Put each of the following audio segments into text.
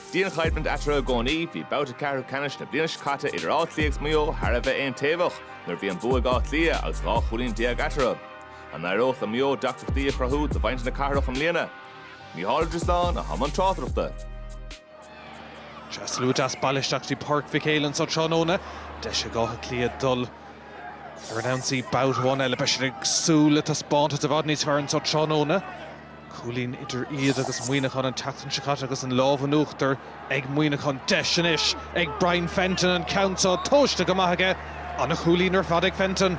Dianchoimhlint eatarthu i gcónaí, bhí babhta ceathrú ceannais na bliana seo caite idir Áth Cliath agus Maigh Eo thar a bheith aontaobhach nuair a bhí an bua ag Áth Cliath agus dhá chúilín déag eatarthu. An n-éireodh le Maigh Eo deacrachtaí a chruthú do mhuintir na cathrach i mbliana? Micheál Ó Drisleáin i mbun tráchtaireachta. Thaistil lucht na hardchathrach isteach go dtí Páirc Mhic Héil anseo tráthnóna. Deis ag Áth Cliath dul ar an ionsaí babhta amháin eile. Beidh siad ag súil le taispeántas i bhfad níos fearr anseo tráthnóna. Cúilín idir iad agus Muineachán an tseachtain seo caite agus an lámh in uachtar ag Muineachán. Deis anois ag Brian Fenton an ceann seo tomhaiste go maith aige. Ana chúilín ar fad ag Fenton.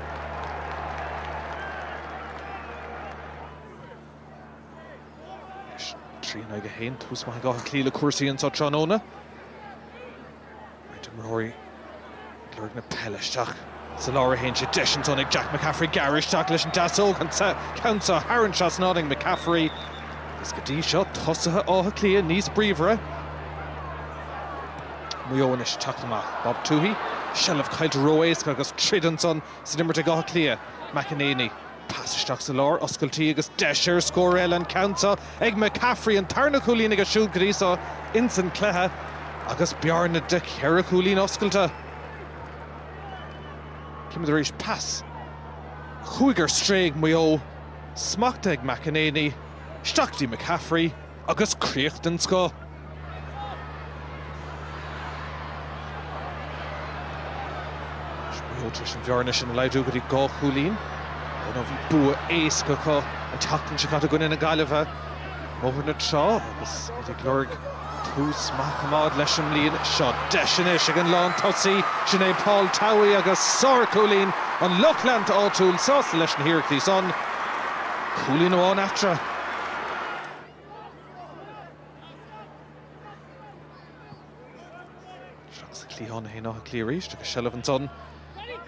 Anois, trí in aghaidh a haon. Tús maith ag Áth Cliath le cúrsaí anseo tráthnóna. Beirt imreoirí ag lorg na peile isteach sa lár a théann sé deis ansan ag Jack McCaffrey gearradh isteach leis an deasóg an ceann so thar an trasnán ag McCaffrey agus go dtí seo tosaithe Átha Cliath níos bríomhaire. Maigh Eo anois ag teacht amach. Bob Tuohy, seilbh caillte ró-éasca agus tríd ansan san imirt ag Áth Cliath. McEneaney. Pas isteach sa lár, oscailtí agus deis ar scór eile an ceann seo ag McCaffrey, an tarna chúilín aige siúd go dtí seo ins an cluiche agus bearna de cheithre chúilín oscailte. Címid arís, pas chuaigh ar strae ag Maigh Eo, smachta ag McEnaney, isteach go dtí McCaffrey. Agus críoch den scoth. Maigh Eo tar éis an bhearna sin a laghdú go dtí dhá chúilín. Dar ndóigh bhí bua éasca acu an tseachtain seo caite i gcoinne na Gaillimhe i mBóthar na Trá agus iad ag lorg tús maith a choimeád leis an mbliain seo. Deis anois ag an lán tosaí, sin é Paul Towey agus sár chúilín an lucht leanta áitiúil sásta leis na hiarrachtaí san. Cúilín amháin eatarthu. Ar an gcliathán thall Áth Cliath arís agus seilbh ansan.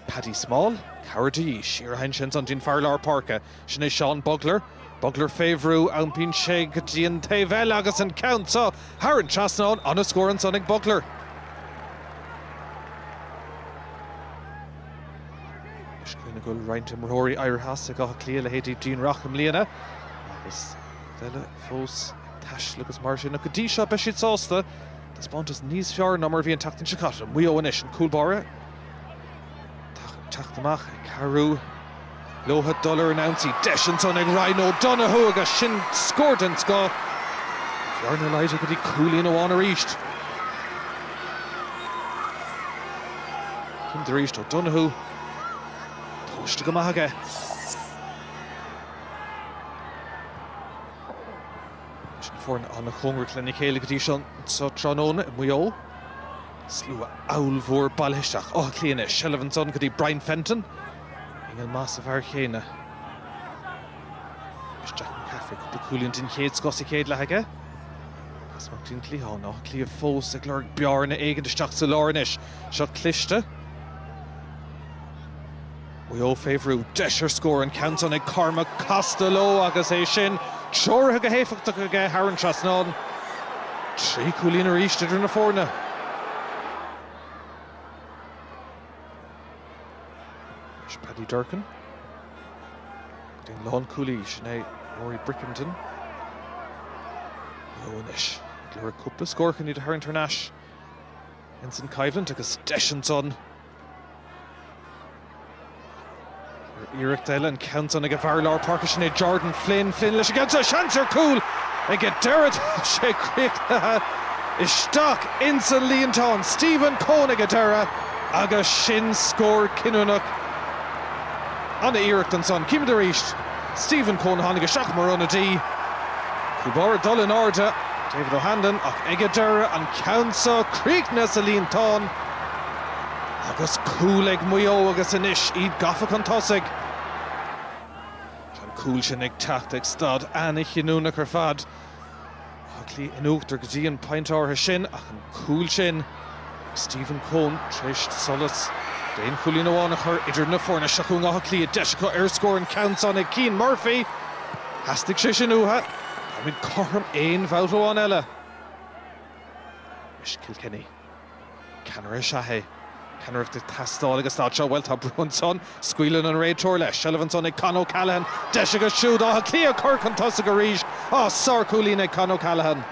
Paddy Small, cabhair de dhíth. Siar a théann sé ansan, go dtí an fear lár páirce. Sin é Seán Bugler. Bugler fé bhrú, iompaíonn sé go dtí an taobh eile agus an ceann seo thar an trasnán. Ana-scór ansan ag Bugler. Is cuimhin go bhfuil roinnt imreoirí éirithe as ag Áth Cliath, leithéidí Dean Rock i mbliana agus beirt eile fós ag taisteal agus mar sin, ach go dtí seo beidh siad sásta taispeántas níos fearr ná mar a bhí an tseachtain seo caite. Maigh Eo anois, an cúl báire ag teacht amach, ag cabhrú. Leotha dul ar an ionsaí deis ansan ag Ryan O'Donoghue agus sin scór den scoth. Bearna laghdaithe go dtí cúilín amháin arís. Cinnte arís O'Donoghue. Tomhaiste go maith aige. Is na foirne an-chóngarach lena chéile go dtí seo anso tráthnóna i Maigh Eo. Slua ollmhór bailithe isteach Áth Cliath anois. Seilbh ansan go dtí Brian Fenton. Inneall maith sa bhfear chéanna. Is Jack McCaffrey cúpla cúilín den chéad scoth sa chéad leath aige. Pas amach go dtí an cliathán, Áth Cliath fós ag lorg bearna éigin isteach sa lár anois. Seo cliste. Maigh Eo fé bhrú. Deis ar scór an ceann san ag Cormac Costello agus é sin treoraithe go héifeachtach aige thar an trasnán. Trí cúilín arís idir na foirne. Sin Paddy Durcan. Go dtí an lánchúlaí, sin é Rory Brickenden. Maigh Eo anois, ag lorg cúpla scór chun iad a tharraingt thar n-ais. Ins an choimhlint agus deis ansan. Ar iarracht eile an ceann san ag an bhfear lár páirce sin é Jordan Flynn. Flynn leis an gceann seo. Seans ar cúl aige deireadh. Tá sé críochnaithe isteach ins an líontán. Stephen Coen aige deireadh agus sin scór cinniúnach an-iarracht ansan. Címid arís. Stephen Coen a tháinig isteach mar ionadaí. Cúl báire ag dul in airde. David O'Hanlon ach aige deireadh. An ceann seo críochnaithe sa líontán. Agus cúl ag Maigh Eo agus anois iad gafa chun tosaigh. Tá an cúl sin ag teacht ag staid an-chinniúnach ar fad. Áth Cliath in uachtar go dtí an pointe áirithe sin ach an cúl sin ó Stephen Coen tar éis solas d'aon chúilín amháin a chur idir na foirne. Seo chugainn Áth Cliath, deis acu ar scór, an ceann san ag Cian Murphy. Theastaigh sé sin uathu. Táimid cothrom aon bhabhta amháin eile. Is Kilkenny. Ceannaire is ea é. Ceannaireacht ag teastáil ag an staid seo. Bhuel, tá brú ansan. Scaoileann an réiteoir leis. Seilbh ansan ag Con O'Callaghan. Deis acu siúd Áth Cliath a chur chun tosaigh arís. Á, sárchúilín ag Con O'Callaghan.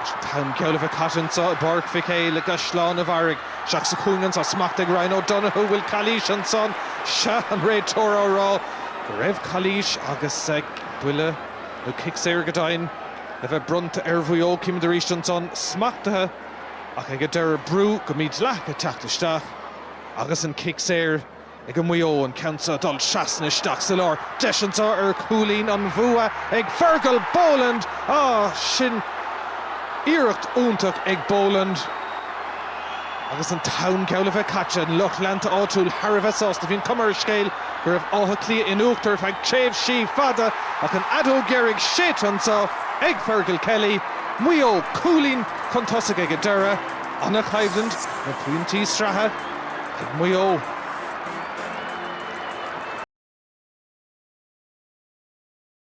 An t-am geall le bheith caite anso i bPáirc Mhic Éil i gCaisleán a' Bharraigh, isteach sa chúinne anso. Smacht ag Ryan O'Donoghue. Bhfuil calaois ansan? Sea, an réiteoir á rá go raibh calaois agus buille nó cic saor go deimhin. le bheith bronnta ar Mhaigh Eo. Címid arís ansan smachtaithe ach ag an deireadh brú go mídhleathach ag teacht isteach agus an cic saor ag Maigh Eo, an ceann seo dul trasna isteach sa lár. Deis anso ar chúilín an bhua ag Fergal Boland. Á! Sin iarracht iontach ag Boland agus an t-am geall a bheith caite. An lucht leanta áitiúil thar a bheith sásta. Bhí an chuma ar an scéal go raibh Áth Cliath in uachtar ar feadh tréimhsí fada ach an fheadóg dheiridh séidte anso ag Fergal Kelly, Maigh Eo, cúilín chun tosaigh ag an deireadh, an-choimhlint na pointí sraithe ag Maigh Eo.